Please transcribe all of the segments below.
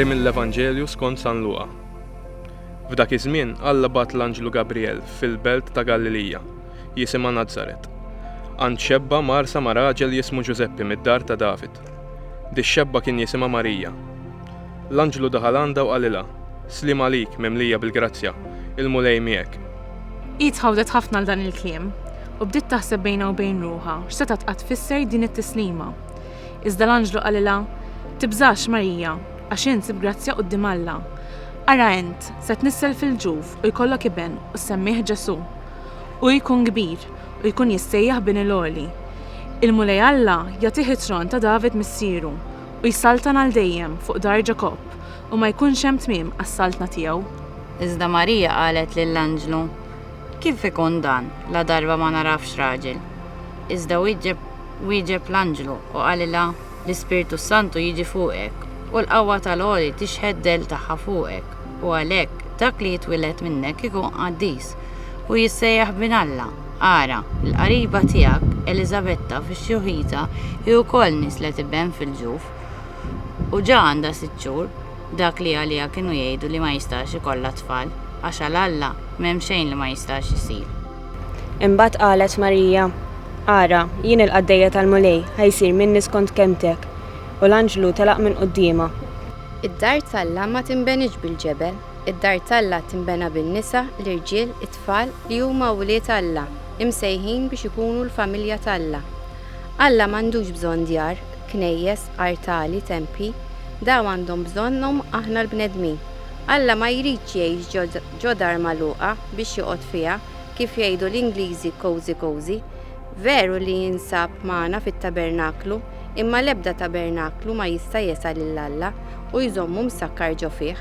Qari mill-Evanġelju skont San Luqa. F'dak iż-żmien Alla bagħat l-anġlu Gabrijel fil-belt ta' Galilija, jisimha Nazaret, għand xebba mgħarsa ma' raġel jismu Ġużeppi mid-dar ta' David. Dix-xebba kien jisimha Marija. L-anġlu daħal għandha u qalilha, Sliem għalik, mimlija bil-grazzja, il-Mulej miegħek. Hi tħawdet ħafna għal dan il-kliem, u bdiet taħseb bejnha u bejn ruħha x'setgħet qatt tfisser din it-tislima. Iżda l-anġlu qalilha, Tibżax, Marija, għax int sib grazzja quddiem Alla. Ara int, se tnissel fil-ġuf u jkollok iben u ssemmih Ġesù. Hu jkun kbir u jkun jissejjaħ Bin il-Għoli. Il-Mulej Alla jagħtih it-tron ta' David missieru, u jsaltan għal dejjem fuq dar Ġakobb, u ma jkunx hemm tmiem għas-saltna tiegħu. Iżda Marija qalet lill-anġlu, Kif ikun dan, ladarba ma nagħrafx raġel? Iżda wieġeb wieġeb l-anġlu u qalilha, L-Ispirtu s-Santu jiġi fuqek, u l-qawwa tal-Għoli tixħet dell tagħha fuqek. U għalhekk, dak li jitwieled minnek ikun qaddis, u jissejjaħ Bin Alla. Ara, il-qariba tiegħek Eliżabetta fi xjuħitha hi wkoll nisslet iben fil-ġuf, u ġa għandha sitt xhur, dak li għaliha kienu jgħidu li ma jistax ikollha tfal, għax għal Alla m'hemm xejn li ma jistax isir. Imbagħad qalet Marija, Ara, jien il-qaddejja tal-Mulej, ħa jsir minni skont kelmtek. U l-anġlu telaq minn quddiemha. Id-dar t'Alla ma tinbeniġ bil-ġebel, id-dar t'Alla tinbena bin-nisa, l-irġiel, it-tfal, li huma wlied Alla, imsejħin biex ikunu l-familja t'Alla. Alla m'għandux bżonn djar, knejjes, artali, tempji. Dawn għandhom bżonnhom aħna l-bnedmin. Alla ma jridx jgħix ġo dar magħluqa biex joqgħod fiha, kif jgħidu l-Ingliżi cozy cozy. Veru li jinsab magħna fit-tabernaklu, imma l-ebda tabernaklu ma jista' jesa' lil Alla u jżommu msakkar ġo fih.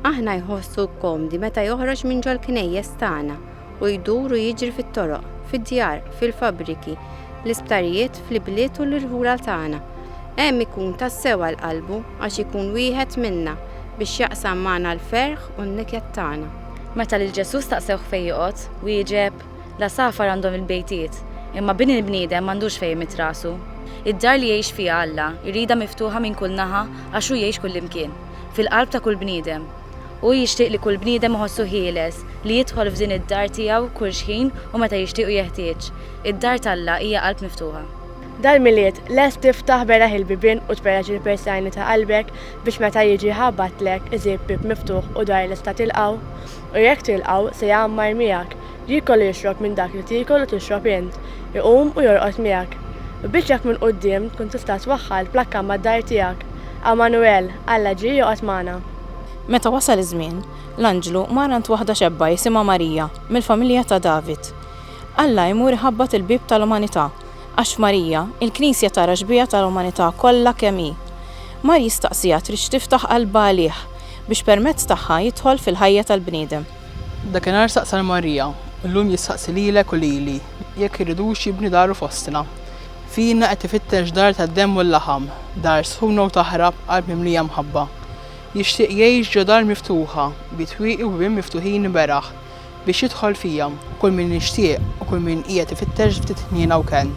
Aħna jħossu komdi meta joħroġ minn ġol-knejjes tagħna u jdur u jiġri fit-toroq, fid-djar, fil-fabbriki, l-isptarijiet, fl-ibliet u l-irħula tagħna. Hemm ikun tassew għal qalbu għax ikun wieħed minna biex jaqsam magħna l-ferħ u n-niket tagħna. Meta lil Ġesù staqsewh fejn joqgħod, wieġeb, L-għasafar għandhom il-bejtiet, imma bin il-bniedem m'għandux fejn imidd rasu. Id-dar li jgħix fiha Alla jridha miftuħa minn kull naħa għax hu jgħix kullimkien, fil-qalb ta' kull bniedem. Hu jixtieq li kull bniedem iħossu ħieles li jidħol f'din id-dar tiegħu kull xħin u meta jixtieq u jeħtieġ. Id-dar t'Alla hija qalb miftuħa. Dal-Milied, lest tiftaħ beraħ il-bibien u tferreġ il-persajni ta' qalbek biex meta jiġi jħabbatlek, iżib bieb miftuħ u dar lesta tilqgħu? U jekk tilqgħu, se jgħammar miegħek, jiekol u jixrob minn dak li tiekol u tixrob int, iqum u jorqod miegħek. U biex jekk minn quddiem tkun tista' twaħħal plakka mad-dar tiegħek, Għamanuel, Alla ġie joqgħod magħna. Meta wasal iż-żmien, l-anġlu mar għand waħda xebba jisimha Marija, mill-familja ta' David. Alla jmur iħabbat il-bieb tal-umanità, għax f'Marija, il-Knisja tara xbieha tal-umanità kollha kemm hi. Mar jistaqsiha tridx tiftaħ qalbha għalih, biex permezz tagħha jidħol fil-ħajja tal-bniedem. Dakinhar saqsa 'l Marija, u llum jistaqsi lilek u lili, jekk irridux jibni daru fostna. Fina qed ifittex dar tad-demm u l-laħam, dar sħuna u taħrab b'qalb mimlija mħabba. Jixtieq jgħix ġo dar miftuħa, bi twieqi u bibien miftuħin iberah, biex jidħol fija, kull min jixtieq u kull min qiegħed ifittex ftit ħniena u kenn.